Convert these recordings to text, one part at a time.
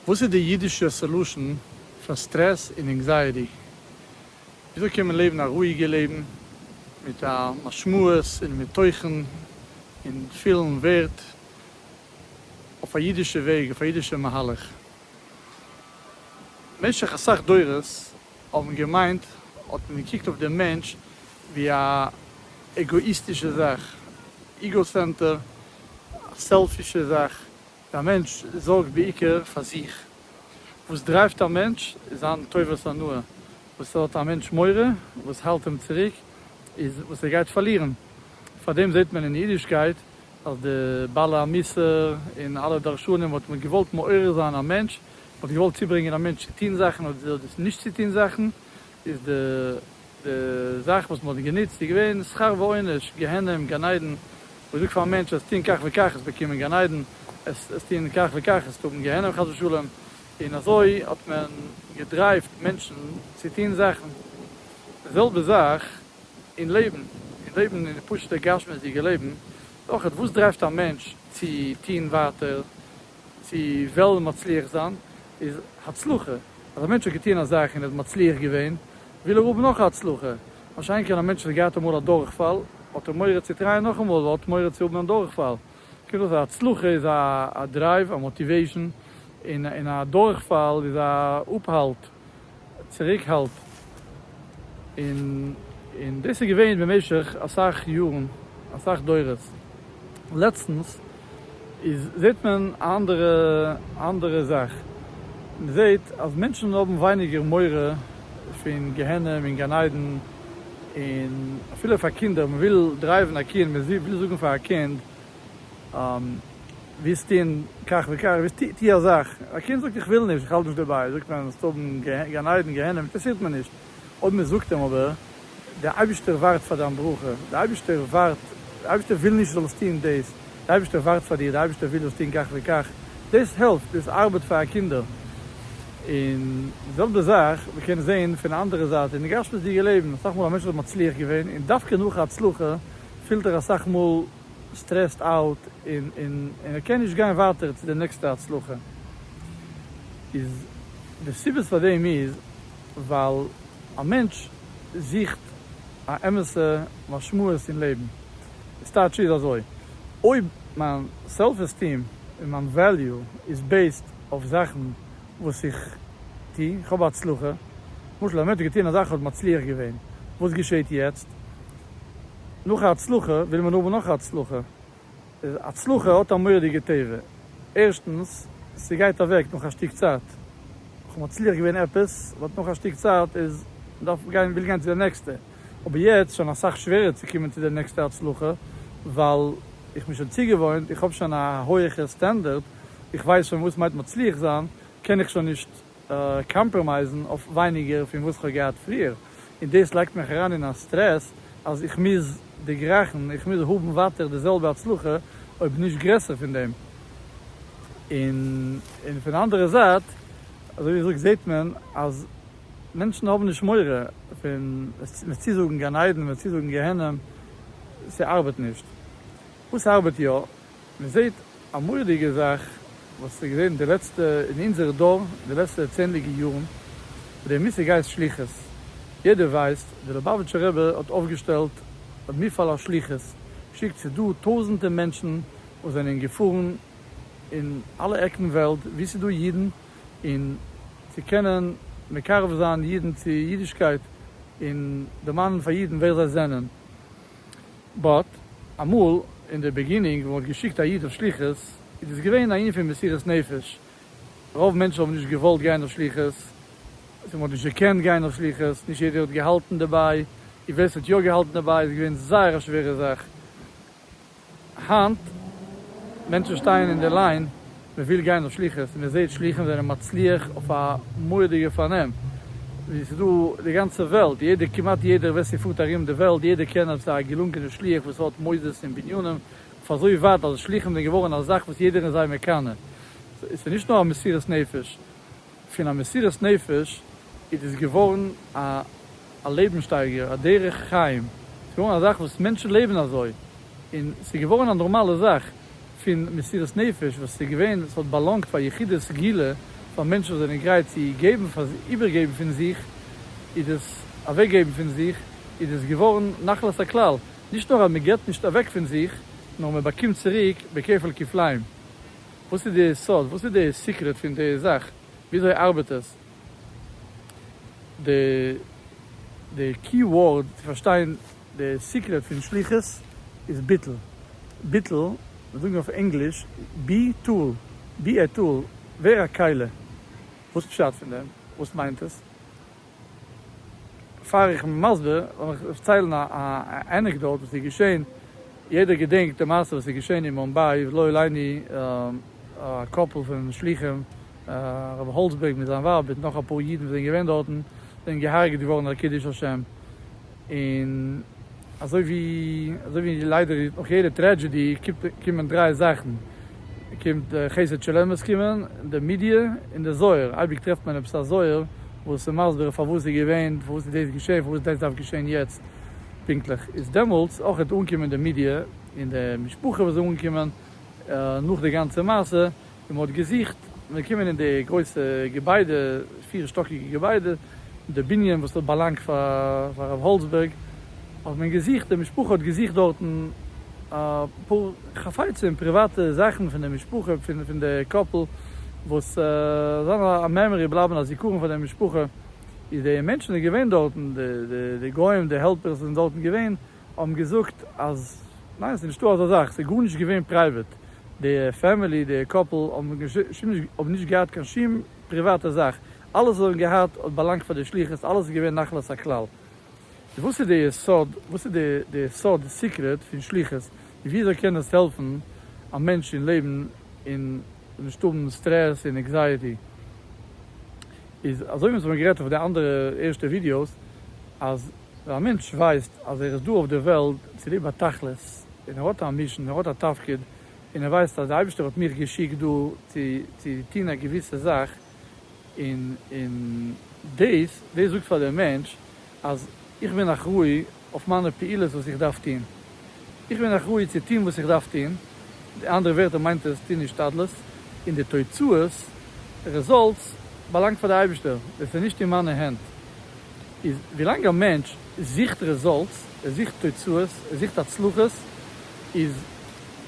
וואס איז די אידישע סעלושען פאר סטרעס און ענקזייעטי? וויאזוי קען מען לעבן א רואיגע לעבן מיט א משמעות און מיט תוכן און פילן ווערד אויף א אידישע וועג אויף א אידישע מהלך? במשך אסאך דורות. האבן געמיינט האט מען געקוקט אויף דעם מענטש ווי א עגאאיסטישע זאך, איגאסענטער, א סעלפישע זאך, ווי א מענטש זארגט בעיקר פאר זיך. וואס דרייווט א מענטש איז זיין טובת הנאה, וואס האט א מענטש מורא, וואס האלט אים צוריק, איז וואס ער גייט פארלירן. פאר דעם זעט מען אין אידישקייט אז די בעלי המוסר און אלע דרשנים האט מען געוואלט מעורר זיין א מענטש מ'האט געוואלט צוברענגען א מענטש צו טון זאכן אדער דאס נישט צו טון זאכן, איז די די זאך וואס מ'האט גענוצט איז געווען שכר ועונש, גיהנום, גן עדן, מ'זאגט פארן מענטש אז טון כך וכך עסט באקומען גן עדן, עס עס טון כך וכך עסט האבן גיהנום חס ושלום, און אזוי האט מען געדרייווט מענטשן צו טון זאכן, די זעלבע זאך אין לעבן, אין לעבן אין די פשוט'ע גשמיות'דיגע לעבן, אויכעט וואס דרייווט א מענטש צו טון ווייטער, צו וועלן מצליח זיין איז הצלחה, אז א מענטש האט געטון א זאך און ער איז מצליח געווען, וויל ער האבן נאך א הצלחה. מה שאין כן א מענטש וואס האט געהאט אמאל א דורכפאל, האט ער מורא צו טרייען נאכאמאל, ווייל ער האט מורא צו האבן א דורכפאל. קומט אויס אז הצלחה איז א דרייוו, א מאטיוועישאן, און א דורכפאל איז א אפהאלט. צוריקהאלט, און דאס איז געווען במשך אסאך יארן, אסאך דורות. לעצטנס איז זעט מען א אנדערע אנדערע זאך, מען זעט אז מענטשן האבן ווייניגער מורא פון גיהנום און גן עדן, און אפילו פאר קינדער, מען וויל דרייוון א קינד, מען וויל זאגן פאר א קינד ווילסט טון כך וכך, ווילסט טו טו א זאך, א קינד זאגט איך וויל נישט, איך האלט נישט דערביי, זאגט מען וועסט האבן גן עדן גיהנום, אינטערעסירט מיר נישט, אויב מען זאגט אים אבער דער אייבערשטער ווארט פאר דיין ברכה, דער אייבערשטער ווארט, דער אייבערשטער וויל נישט זאלסט טון דאס, דער אייבערשטער ווארט פאר דיר, דער אייבערשטער וויל זאלסט טון כך וכך, דאס העלפט, דאס ארבעט פאר א קינדער, און די זעלבע זאך מען קען זען פון א אנדערע זייט אין די גשמיות'דיגע לעבן, אסאך מאל א מענטש וואס איז מצליח געווען, און דווקא נאך א הצלחה פילט ער אסאך מאל. סטרעסד אוט און און ער קען נישט גיין ווייטער צו די נעקסטע הצלחה איז די סיבות פאר דעם איז ווייל א מענטש זוכט א אמת'ע משמעות אין לעבן עס טייטש איז אזוי אויב מיין סעלף עסטיעם און מיין וועליו איז בעיסד אויף זאכן וואס איך טו איך האב הצלחה למשל א מענטש האט געטון א זאך און האט מצליח געווען וואס געשעהט יעצט נאך א הצלחה וויל מען האבן נאך א הצלחה. הצלחה האט א מורא'דיגע טבע. ערשטנס, ס'גייט אוועק נאך א שטיק צייט. כ'האב מצליח געווען עפעס, באט נאך א שטיק צייט איז מ'דארף גיין וויל גיין צו די נעקסטע. אבער יעצט שוין אסאך שווערער צו קומען צו די נעקסטע הצלחה, ווייל איך בין שוין צוגעוואוינט, איך האב שוין א הויעכע סטענדערד, איך ווייס שוין וואס מיינט מצליח זיין, קען איך שוין נישט קאמפראמייזן אויף ווייניגער פון וואס כ'האב געהאט פריער, און דאס לייגט מיך אריין אין א סטרעס אז איך מוז דערגרייכן, איך מוז האבן ווייטער די זעלבע הצלחה אויב נישט גרעסער פון דעם, און פון די אנדערע זייט אזוי ווי איך זאג זעט מען אז מענטשן האבן נישט מורא פון מ'וועט צוזאגן גן עדן, מ'וועט צוזאגן גיהנום, ס'ארבעט נישט. וואס ארבעט יא? מען זעט א מורא'דיגע זאך וואס איז געווען די לעצטע אין אונזער דור די לעצטע צענדליגע יארן ווי די מושג הייסט שליחות, יעדער ווייסט די ליובאוויטשער רבי האט אויפגעשטעלט א מפעל השליחות שיקט צו דא טויזענטער מענטשן וואס זענען געפארן אין אלע עקן וועלט ווי ס'איז דא אידן און צו קענען מקרב זיין אידן צו אידישקייט און דערמאנען פאר אידן ווער זיי זענען. באט, אמאל אין די ביגינינג ווען מען האט געשיקט א איד אויף שליחות איז דאס געווען א ענין פון מסירת נפש, רוב מענטשן האבן נישט געוואלט גיין אויף שליחות, מען האט נישט געקענט גיין אויף שליחות, נישט יעדער האט געהאלטן דערביי, און ווער ס'האט יא געהאלטן דערביי איז געווען זייער א שווערע זאך. היינט, מענטשן שטייען אין די ליין מען וויל גיין אויף שליחות און מען זעט שליחים זענען מצליח אויף א מורא'דיגע פארנעם, ווי ס'איז דא די גאנצע וועלט, יעדער כמעט יעדער ווער ס'פארט ארום די וועלט יעדער קען עפעס א געלונגענע שליח וואס האט מוסדות און בנינים אויף אזוי ווייט אז שליחים זענען געווארן א זאך וואס יעדער איז זיי מקנא, ס'איז נישט נאר א מסירות נפש. פון א מסירת נפש איז דאס געווארן א לעבנסשטייגער, א דרך חיים, ס'איז געווארן א זאך וואס מענטשן לעבן אזוי, און ס'איז געווארן א נארמאלע זאך פון מסירת נפש, וואס ס'איז געווען, ס'האט באלאנגט פאר יחידי סגולה, פאר מענטשן וואס זענען גרייט צו געבן, איבערגעבן פון זיך, איז דאס אוועקגעבן פון זיך, איז דאס געווארן נחלת הכלל, נישט נאר אז מ'געבט נישט אוועק פון זיך, נאר מ'באקומט צוריק בכפל כפליים. וואס איז די סוד? וואס איז די סיקרעט פון די זאך? וויאזוי ארבעט עס? די די קי ווארד צו פארשטיין די סיקרעט פון שליחות איז ביטול. ביטול, מיר זאגן אויף ענגליש בי טול, בי עי טול, ווער א כלה. וואס פשט פון דעם? וואס מיינט עס? פאר איך בין מסביר וועל איך דערציילן א ענעקדאוט וואס איז געשען, יעדער געדענקט די מעשה וואס איז געשען אין מומביי ולא עלינו א קאפל פון שלוחים הרב האלצבערג מיט זיין ווייב מיט נאך אפאר אידן וואס זענען געווען דארטן זענען געהארגעט געווארן על קידוש השם, און אזוי ווי אזוי ווי ליידער נאך יעדע טרעדזשעדי קומט קומען דריי זאכן קומט די חסד של אמת קומען די מידיע און די זוהר אייביג טרעפט מען עפעס א זוהר וואס איז מסביר פארוואס איז געווען פארוואס איז דאס געשעהן פארוואס דאס דארף געשעהן יעצט פונקטליך איז דעמאלטס אויך וועט אנקומען די מידיע און די משפחה וואס זאל אנקומען נאך די גאנצע מעשה און מ'האט געזוכט, און מ'איז געקומען אין די גרויסע געביידע, פיר שטאקיגע געביידע, די בנין וואס האט באלאנגט פאר הרב האלצבערג, האט מען געזוכט, די משפחה האט געזוכט דארטן אפאר חפצים, פריוואטע זאכן פון די משפחה, פון די קאפל, וואס זאלן א מעמארי בלייבן, א זיכרון פאר די משפחה, איז די מענטשן איז געווען דארטן, די גוים, די העלפערס זענען דארטן געווען, האבן געזאגט אז ניין עס איז נישטא אזא זאך, עס איז גארנישט געווען פרייוועט, די פעמילי, די קאפל האבן נישט געהאט קיין שום פריוואטע זאך, אלעס וואס זיי האבן געהאט האט באלאנגט פאר די שלוחות, אלעס איז געווען נחלת הכלל. איז וואס איז די סוד, וואס איז די סוד, די סיקרעט פון שלוחות, און ווי אזוי קען עס העלפן א מענטש אין לעבן און נישט האבן סטרעס און עקזייעטי, איז אזוי ווי מ'האט שוין גערעדט אויף די אנדערע ערשטע ווידיאוס אז. ווען א מענטש ווייסט אז ער איז דא אויף די וועלט צוליב א תכלית, און ער האט א מישן, ער האט א תפקיד, און ער ווייסט אז די אייבערשטער האט מיך געשיקט דא צו צו טון א געוויסע זאך, און און דאס דאס זאגט פאר דעם מענטש אז איך בין אחראי אויף מיינע פעולות וואס איך דארף טון. איך בין אחראי צו טון וואס איך דארף טון, מיט אנדערע ווערטער מיינט עס טון השתדלות, און די תוצאות, רעזאלטס, באלאנגט פאר די אייבישטער, דאס איז נישט אין מיינע הענט. איז ווילאנג א מענטש זוכט רעזאלטס, ער זוכט תוצאות, ער זוכט הצלחות, איז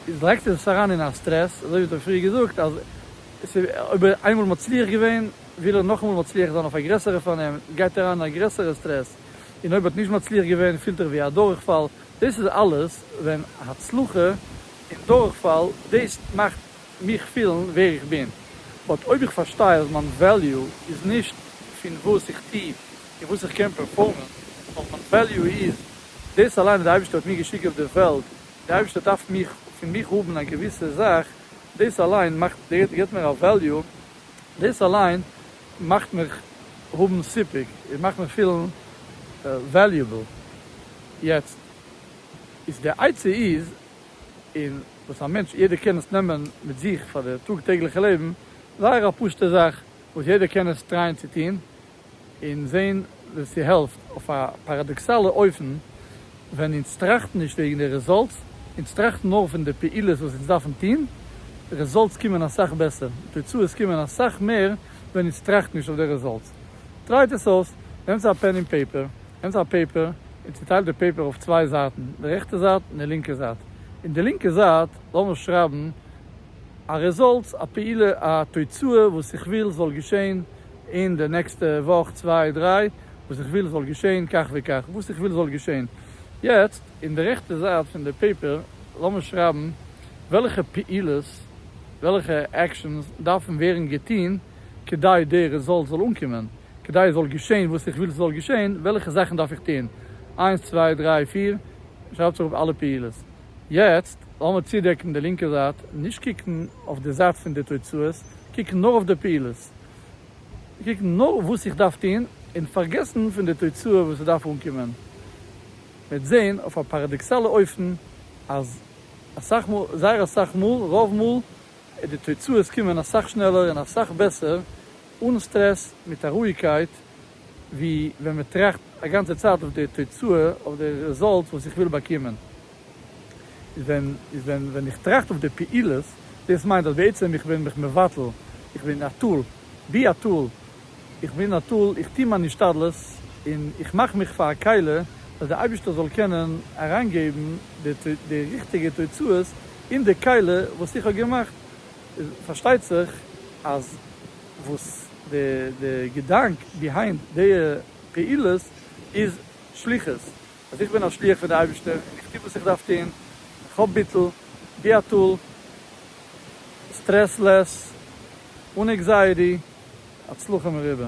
איז לייגט ער זיך אריין אין א סטרעס, אזוי ווי איך האב פריער געזאגט, אז עס איז אויב ער איז איינמאל מצליח געווען, וויל ער נאכאמאל מצליח זיין אויף א גרעסערע פארנעם, גייט ער אריין אין א גרעסערע סטרעס, און אויב האט נישט מצליח געווען פילט ער ווי א דורכפאל, דאס איז אלעס ווען הצלחה און דורכפאל דאס מאכט מיך פילן ווער איך בין, באט אויב איך פארשטיי אז מיין וועליו איז נישט פון וואס איך טו און וואס איך קען פערפארמען, נאר מיין וועליו איז דאס אליין וואס די אייבערשטער האט מיר געשיקט אויף די וועלט, און די אייבערשטער דארף פון מיך האבן א געוויסע זאך, דאס אליין מאכט, געבט מיר א וועליו, דאס אליין מאכט מיך האבן סיפוק, און מאכט מיך פילן וועליובעל, יעצט איז די עצה איז, און וואס א מענטש יעדער קען עס נעמען מיט זיך פאר די טאג טעגליכע לעבן, זייער א פשוטע זאך וואס יעדער קען עס טרייען צו טון, און זען. ס'העלפט אויף א פאראדאקסאלע אופן ווען אונז טראכטן נישט וועגן די רעזאלטס, אונז טראכטן נאר פון די פעולות וואס אונז דארפן טון, רעזאלטס קומען אסאך בעסער, תוצאות קומען אסאך מער ווען אונז טראכטן נישט אויף די רעזאלטס. טרייט עס אויס, נעמטס א פען און פעיפער, נעמטס א פעיפער און צוטיילט די פעיפער אויף צוויי זייטן, די רעכטע זייט און די לינקע זייט, אין די לינקע זייט לאמיר שרייבן א רעזאלטס, א פעולה, א תוצאה וואס איך וויל זאל געשעהן אין די נעקסטע וואך צוויי דריי, וואס איך וויל זאל געשעהן כך וכך, וואס איך וויל זאל געשעהן. יעצט אין די רעכטע זייט פון די פעיפער לאמיר שרייבן וועלכע פעולות, וועלכע עקשאנס דארפן ווערן געטוהן כדי די רעזאלט זאל אנקומען, כדי עס זאל געשעהן וואס איך וויל ס'זאל געשעהן, וועלכע זאכן דארף איך טוהן, איינס צוויי דריי פיר, שרייבטס אראפ אלע פעולות. יעצט לאמיר צודעקן די לינקע זייט, נישט קוקן אויף די זייט פון די תוצאות, קוקן נאר אויף די פעולות, קוקן נאר וואס איך דארף טון און פארגעסן פון די תוצאה וואס עס דארף אנקומען, וועט זען אויף א פאראדאקסאלע אופן אז אסאך מאל, זייער אסאך מאל, רוב מאל, איז די תוצאות קומען אסאך שנעלער און אסאך בעסער, אן סטרעס, מיט א רואיגקייט, ווי ווען מען טראכט א גאנצע צייט אויף די תוצאה, אויף די רעזאלטס וואס איך וויל באקומען. איז ווען איז ווען ווען איך טראכט אויף די פעולות, דאס מיינט אז בעצם איך בין מיך מבטל, איך בין א טול, בי א טול, איך בין א טול, איך טו מיין השתדלות און איך מאך מיך פאר א כלה אז דער אייבערשטער זאל קענען אריינגעבן די די ריכטיגע תוצאות אין די כלה וואס איך האב געמאכט, איז פארשטייט זיך אז וואס די געדאנק ביהיינד די פעולות איז שליחות, אז איך בין א שליח פון די אייבערשטער און איך טו וואס איך דארף טון, איך האב ביטול, ביאטול, סטרעס לעס, אן עקזייעטי, הצלחה מרובה.